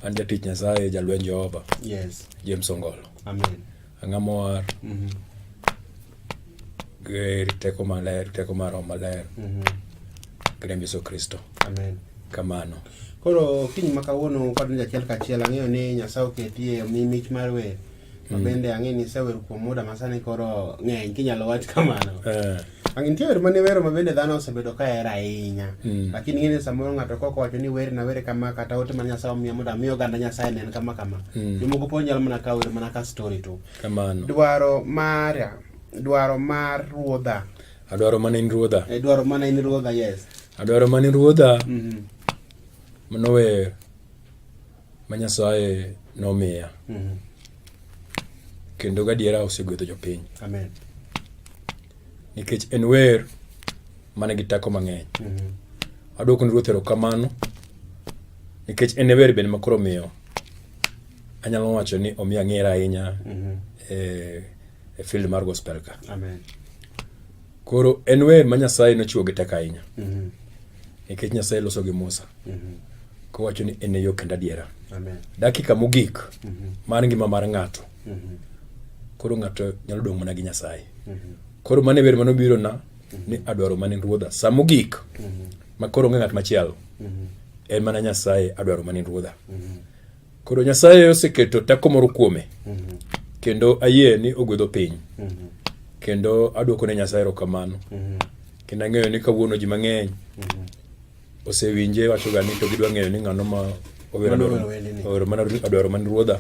An jatich Nyasaye, jalweny Jehova. Yes. James Ongolo. Amen. Ang'a mowar. Mm -hmm. Ger teko maler, teko mar Roho Maler. Mm -hmm. Grem Yesu Kristo. Amen. Kamano. Koro kiny ma kawuono kwadonjo achiel kachiel ang'eyo ni Nyasaye oketie omi mich mar wer. ma mm. bende ang'e ni isewer kuom muda masani koro ng'eny kinyalo wach kamano eh. ang nitie wer mane wero ma bende dhano osebedo ka hero ahinya mm. lakini ing'e ni samoro ng'ato kok owacho ni wer na were kama kata ote ma nyasaye omiya mondo ami oganda nyasaye nen kama kama mm. jomoko po nyalo mana ka wer mana ka story to dwaro mara dwaro mar ruodha adwaro mana in ruodha eh, dwaro mana in ruodha yes adwaro mana in ruodha mm-hmm. mano wer ma Nyasaye nomiya mm -hmm. kendo gadiera osegwedho jopiny Amen. nikech en wer mane gi teko mang'eny mm -hmm. aduoko ni ruoth erokamano nikech en e wer bende makoro miyo anyalo wacho ni omi ang'era ahinya mm -hmm. e, e field mar gospel ka Amen. Koro en wer ma Nyasaye nochiwo gi teko ahinya. Mhm. Nikech mm -hmm. Nyasaye loso gi Musa. Mm -hmm. Kowacho ni en e yo kendo adiera. Amen. Dakika mogik mm -hmm. mar ngima mar ng'ato. Mm -hmm. Koro ng'ato nyalo dong' mana gi Nyasaye. Mm -hmm. Koro mane wer mano biro na mm -hmm. ni adwaro mane ruodha. Sa mogik mm -hmm. ma koro onge ng'at machielo. Mm -hmm. En mana Nyasaye adwaro mane ruodha. Mm -hmm. Koro Nyasaye oseketo teko moro kuome mhm. kendo ayie ni ogwedho piny mhm. kendo aduoko ne Nyasaye erokamano mhm. kendo ang'eyo ni kawuono ji mang'eny osewinje wachoga ni to gidwa ng'eyo ni ng'ano ma owero mana adwaro man ruodha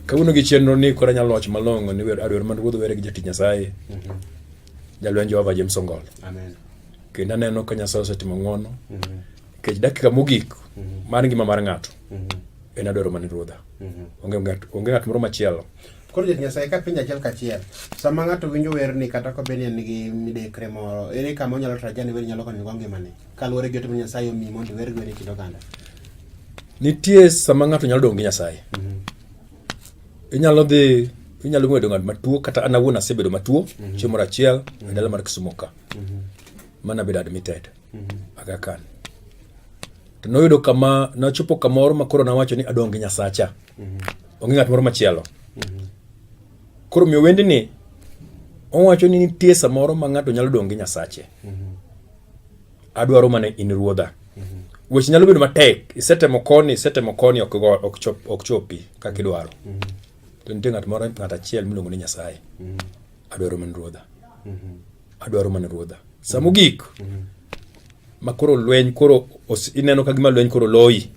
kawuono gi chenro ni koro anyalo wacho malong'o ni adwaro man ruodha were gi jatich Nyasaye jalweny Jehova James Ongol kendo aneno ka Nyasaye osetimo ng'wono Nikech dakika mogik mhm. mar ngima mar ng'ato mhm. en adwaro mana Ruodha. Mhm. Onge ng'at moro machielo. Koro jot Nyasaye ka penjo achiel kachiel. Sama ng'ato winjo werni kata ka bed ni en gi midekre moro, ere kama onyalo traja ni wer nyalo konyogo ngimane? Kaluwore gi ote ma Nyasaye omi mondo iwer gwene kit oganda. Nitie sama ng'ato nyalo dong' gi Nyasaye. Inyalo dhi inyalo ng'wedo ng'at matuo kata an awuon asebedo matuo chieng' moro achiel e dala mar Kisumo ka. Mana bedo admitted. mm-hmm. Aga Khan to noyudo kama nachopo kamoro ma koro nawacho ni adong' gi Nyasacha mm-hmm. onge ng'at moro machielo mm-hmm. koro miyo wendni owacho ni nitie samoro ma ng'ato nyalo dong' gi Nyasache adwaro mana in ruodha weche nyalo bedo matek isetemo koni isetemo koni ok go ok chop ok chopi kaka idwaro to nitie ng'at moro ng'at achiel miluongo ni Nyasaye adwaro mana ruodha Adwaro mana ruodha. Sa mogik ma koro lweny koro ineno ka gima lweny koro loyi,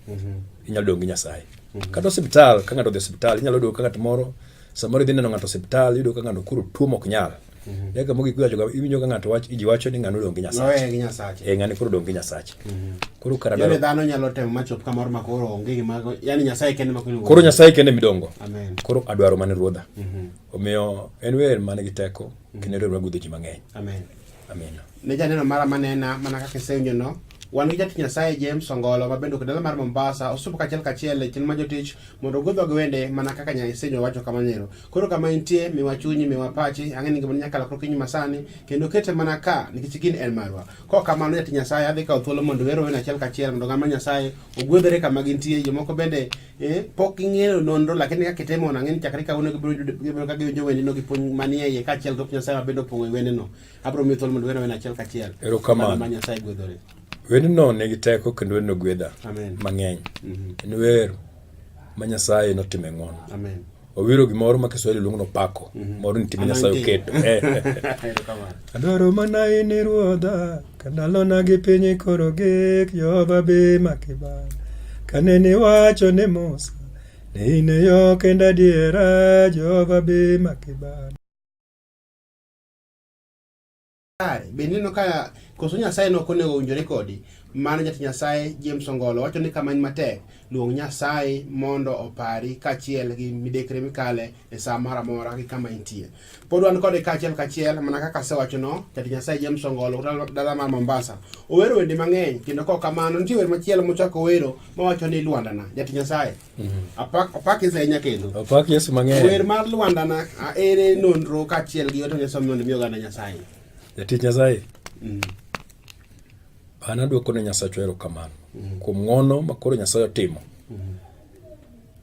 inyalo dong' gi Nyasaye. Kata osiptal, ka ng'ato odhi osiptal, inyalo yudo ka ng'at moro samoro idhi neno ng'ato osiptal, iyudo ka ng'ato koro tuo mok nyal. Mhm. Eka mogik iwacho kama, iwinjo ka ng'ato wacho, ji wacho ni ng'ano odong' gi Nyasache. gi Nyasache. Eh, ng'ani koro odong' gi Nyasache. Mhm. Koro kara dwaro. dhano nyalo temo machop kamoro ma koro onge gima, yani Nyasaye kende ma koro. Koro Nyasaye kende midongo. Amen. Koro adwaro mane ruodha. Mhm. Omiyo en wer mane gi teko. kendo riwruok gudho ji mang'eny amen amen ne janeno mara manena mana kaka isenyono wan gi jatich nyasaye james ongolo ma bende okdala mar mombasa osupo kachiel kachiel e chenro ma jotich mondo ogudhwa gi wende mana kaka nyasenyo wacho kamanero koro kama intie miwa chunyi miwa pachi ang'e ni ngimani nyaka lokro kinyi masani kendo kete mana ka nikech gin en marwa ko kamano jatich nyasaye adhi kawo thuolo mondo wero wende achiel kachiel mondo ng'ama nyasaye ogwedhore kama gintie jomoko bende Eh, pok ing'eyo nonro lakini kaka itemo nang'e ni chakre kawuono gibiro ka giwinjo wendino gi puonj manie iye kaachiel gi nyasaye ma bende opong'o e wendino abiro miyo thuolo mondo wendo wend achiel kachiel erokamano ma nyasaye gwedhore wendino nigi teko kendo wendino gwedha mang'eny mhm. en wer ma nyasaye notime ng'wono Owiro gimoro ma Kiswahili luongo ni opako, mhm. moro ni time Nyasaye oketo. Adwaro mana in Ruodha, ka ndalona gi piny koro gik, Jehova be makibana. Kane niwacho ne Musa, ni in e yo kendo adiera, Jehova be makibana. kare be neno ka koso nyasaye no konego owinjore kodi mano jati nyasaye james ongolo wacho ni kama en matek luong nyasaye mondo opari kachiel gi midekre mikale e saa moro amora gi kama intie pod wan kode kachiel kachiel mana kaka asewacho no jati nyasaye james ongolo dala mar mombasa owero wende mang'eny kendo kok kamano nitie wer machielo mochako wero mawacho ni lwandana jati nyasaye Apak, apak Yesu ahinya kendo. Apak Yesu mang'eny. Wer mar Lwanda na aere nonro kaachiel gi ote Nyasaye mondo mi oganda Nyasaye. Jatich Nyasaye. Mm. An aduoko ne Nyasachwa erokamano mm. kuom ng'wono ma koro Nyasaye otimo. Mm.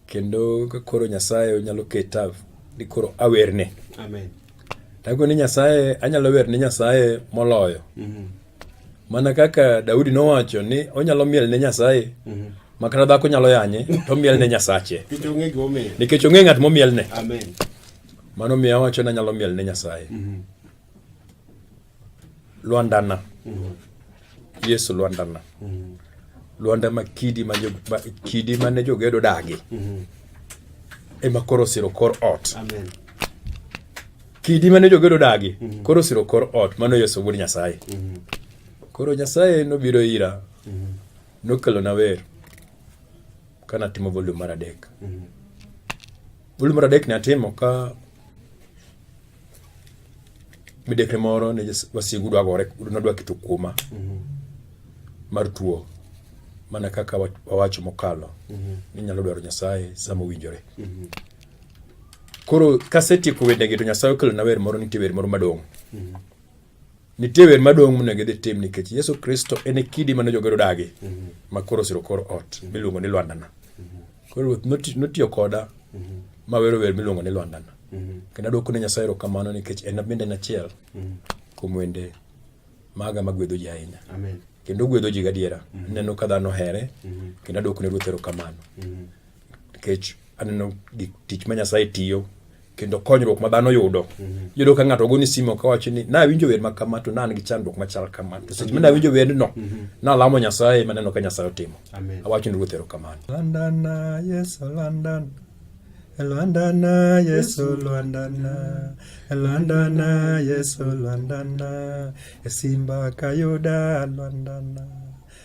Kendo ka koro Nyasaye onyalo keta ni koro awerne. Amen. Dago ni Nyasaye, anyalo wer ni Nyasaye moloyo. Mm -hmm. mana kaka Daudi nowacho ni onyalo miel ne Nyasaye mm -hmm. makata dhako nyalo yanye to miel ne Nyasache nikech ong'e ng'at momiel ne mano miyo awacho ni anyalo miel ne Nyasaye mm -hmm. Lwandana mm -hmm. Yesu Lwandana mm -hmm. Lwanda ma kidi ma, ma kidi mane jogedo dagi mm -hmm. ema koro siro kor ot Amen. Kidi mane jogedo dagi mm -hmm. koro siro kor ot mano Yesu wuod Nyasaye. Mm -hmm. Koro Nyasaye nobiro ira. Mm -hmm. Nokelo na wer. Kana timo volume mar adek. Mm -hmm. Volume mar adek ne atimo ka midekre moro ne wasigu dwa gore nodwa keto kuoma mm -hmm. mar tuo mana kaka wawacho mokalo mm -hmm. ni nyalo dwaro nyasaye sama owinjore mm -hmm. Koro kasetieko wendegi to Nyasaye okelona wer moro nitie wer moro madong'. Mm-hmm. Nitie wer madong' monego idhi tim nikech Yesu Kristo en e kidi mane jogero dagi mm-hmm. ma koro osiro kor ot mm-hmm. miluongo ni Lwandana. Koro ruoth notiyo koda ma wero wer miluongo ni Lwandana. Kendo adwoko ne Nyasaye erokamano nikech en bende en achiel kuom wende maga magwedho ji ahinya. Amen. Kendo ogwedho ji gadiera. Aneno ka dhano here kendo adwoko ne ruoth erokamano. nikech aneno gik tich ma Nyasaye tiyo kendo konyruok ma dhano yudo mhm. yudo ka ng'ato ogoni simo ka wacho ni nawinjo wer ma kama to nan gi chandruok machal kama to seche ma nawinjo wendno mhm. nalamo nyasaye maneno ka nyasaye otimo awacho ni ruoth erokamano landana yesu landana Lwandana Yesu Lwandana Lwandana Yesu Lwandana Simba Kayuda Lwandana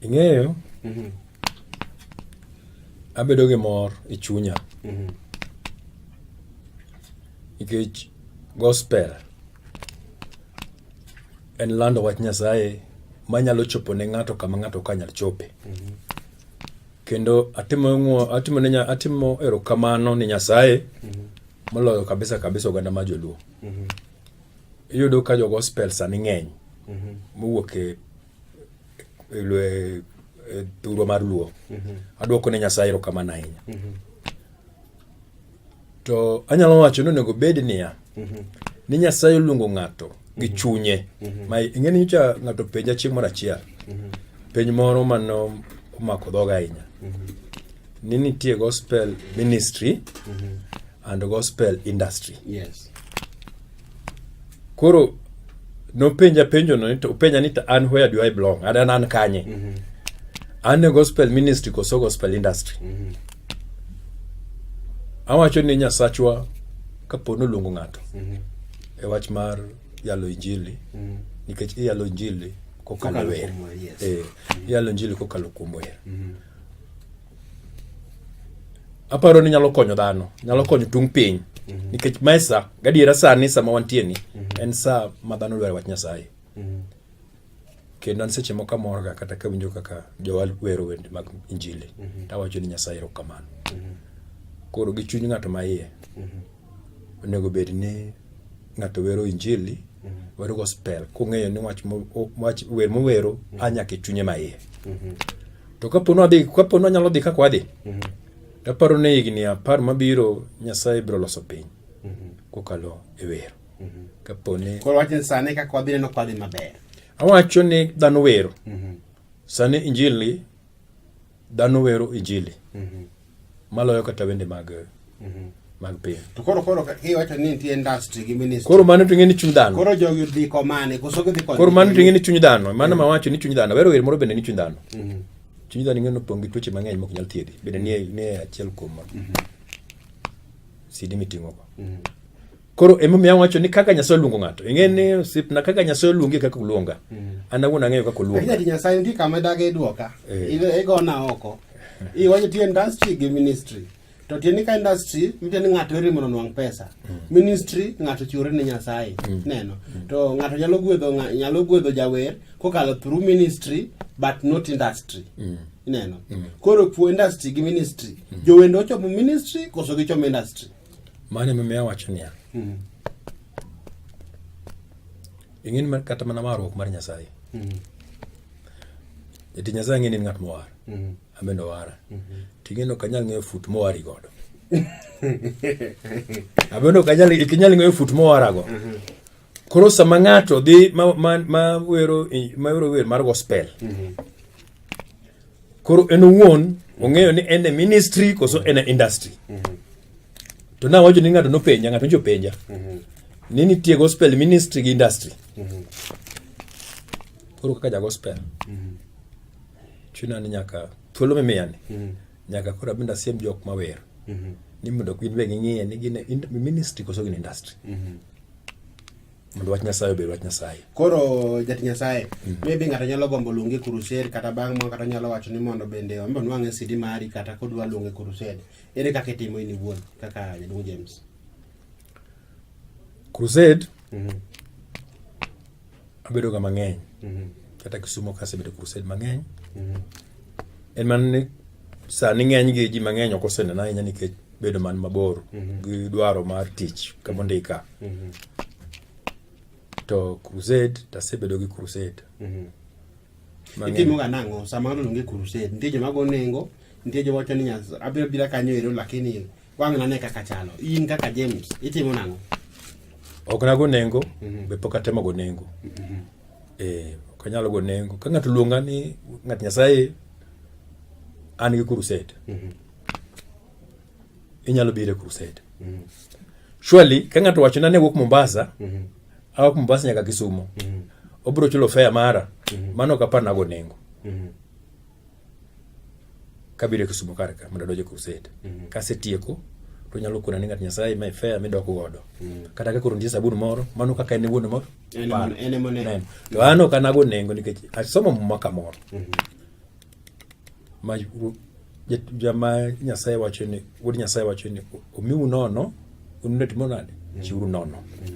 Ing'eyo, mm-hmm. abedo gi mor e chunya mm-hmm. nikech gospel en lando wach Nyasaye manyalo chopo ne ng'ato kama ng'ato ka nyal chope. Mm-hmm. Kendo atimo atimo ne atimo erokamano ni Nyasaye moloyo kabisa kabisa oganda ma joluo. Iyudo ka jo gospel sani ng'eny mowuok e e, e, thurwa mar luo mhm. adwoko ne nyasaye erokamano ahinya mhm. to anyalo wacho ni onego bed niya mhm. ni nyasaye oluongo ng'ato gi chunye ma ing'e ni nyocha ng'ato penja chieng' moro achiel penj moro mano omako dhoga ahinya ni nitie gospel ministry and gospel industry yes. koro nopenja penjo no to penja ni an where do I belong and an an kanye mm -hmm. an e gospel ministry koso gospel industry mm -hmm. awacho ni nyasachwa kapo noluongo ng'ato mm -hmm. e wach mar yalo injili mm -hmm. nikech iyalo injili kokalo wer yes. e, mm -hmm. iyalo injili kokalo kuom wer mm -hmm. aparo ni nyalo konyo dhano nyalo konyo tung piny mhm. nikech mae sa gadiera sani sama wantie ni mhm. en sa ma dhano dware wach nyasaye mhm. kendo an seche moko amorga kata kawinjo kaka jowal wero wende mag injili tawacho ni nyasaye erokamano koro gi chuny ng'ato ma iye onego bed ni ng'ato wero injili wero gospel kong'eyo ni wach wer mowero a nyaka e chunye ma iye To kapo nwadhi, kapo nwanyalo dhi kaka wadhi, mm -hmm. aparo ni higni apar mabiro Nyasaye biro loso piny mm -hmm. kokalo e wero. Mm -hmm. Kapo ni... Koro wacho ni sani kaka wadhi neno kwadhi maber. Awacho ni dhano wero. Mm -hmm. Sani injili, dhano wero injili. Mm -hmm. Maloyo kata wende mag mm -hmm. mag piny. To koro koro kiwacho ni nitie industry gi ministry. Koro mano to ng'eni chuny dhano. Koro jogi dhi ko mane koso gidhi ko. Koro mano to ng'eni chuny dhano. Mano ma wacho ni chuny dhano. Wero wer moro bende ni chuny dhano. Mm -hmm. Chuny dhano ng'eno pong' gi tuoche mang'eny mok nyal thiedhi. Bende nie nie achiel kuom. Mm -hmm. Sidi miting'o go. Mm -hmm. Koro emomiyo awacho ni kaka Nyasaye oluongo ng'ato. Ing'e ni osipna kaka Nyasaye oluongi kaka oluonga. Mm. An awuon ang'eyo kaka oluonga. Kaka Nyasaye ndi kama dage duoka. Eh. Igona oko. Iwacho ti industry gi ministry. To tiende ka industry mitiende ng'ato ere mondo nwang' pesa. Mm. Ministry ng'ato chiwore ne Nyasaye. Mm. Neno. To ng'ato nyalo gwedho nyalo gwedho jawer kokalo through ministry but not industry. Mm. Neno. Koro puo industry gi ministry. Jowendo ochomo ministry koso gichomo industry. Mano emomiyo awacho niya, mm. ing'eni kata mana warruok mar Nyasaye. Mm. Eti Nyasaye ng'eni ng'at mowar. Mm. Amendo wara. Mm-hmm. Ting'eno ok anyal ng'eyo fut mowari godo. Amendo ok anyal ok inyal ng'eyo fut mowarago. Mm-hmm. Koro sama ng'ato dhi ma ma ma wero ma wero wer mar gospel. Mm-hmm. Koro en owuon ong'eyo ni en e ministry koso en e industry. Mhm. To na wacho ni ng'ato nopenja, ng'ato njo penja. Mhm. Ni nitie gospel ministry gi industry. Mhm. Koro kaka ja gospel. Chuna ni nyaka thuolo mimiya ni. Nyaka koro abinda siem jok mawer. Ni mondo gin be ging'iye ni gin e ministry koso gin e industry. mondo wach nyasaye obed wach nyasaye koro jati nyasaye mm. maybe ng'ato nyalo gombo luonge kurused kata bang' moro kata nyalo wacho ni mondo bende ombe onwang' e sidi mari kata kodwa luonge kurused ere kaka itimo in iwuon kaka jaduong' james crusade mm -hmm. abedoga mang'eny mm -hmm. kata kisumo kasebedo crusade mang'eny mm -hmm. en mana ni sani ng'eny gi ji mang'eny ok osenena ahinya nikech bedo man mabor mm -hmm. gi dwaro mar tich kama ondika mm -hmm. to crusade tasebedo gi crusade mm -hmm. itimoga nang'o sama ng'ato onge crusade nitie joma go nengo nitie joma wacho ni abiro bira kanyo ero lakini wang' nane kaka chalo in kaka james itimo nang'o ok nago nengo mm -hmm. be pok atemo go nengo mm -hmm. eh, ok anyalo go nengo ka ng'ato luonga ni ng'at nyasaye an gi crusade mm -hmm. inyalo biro e crusade mm. surely ka ng'ato wacho na ne wuok Mombasa mm -hmm. awa Mombasa nyaka Kisumo mm -hmm. obiro chulo fare mara mm -hmm. mano kapar nago nengo mm -hmm. kabiro e Kisumo kar ka mondo adonj e crusade mm -hmm. kasetieko to nyalo kona ni ng'at Nyasaye ma fare midoko godo mm -hmm. kata ka koro nitie sabun moro mano kaka en wuon moro to an ok anago nengo nikech asomo muma kamoro mm -hmm. ma jama Nyasaye wacho ni wuod Nyasaye wacho ni omiu nono unulet monade chiuru nono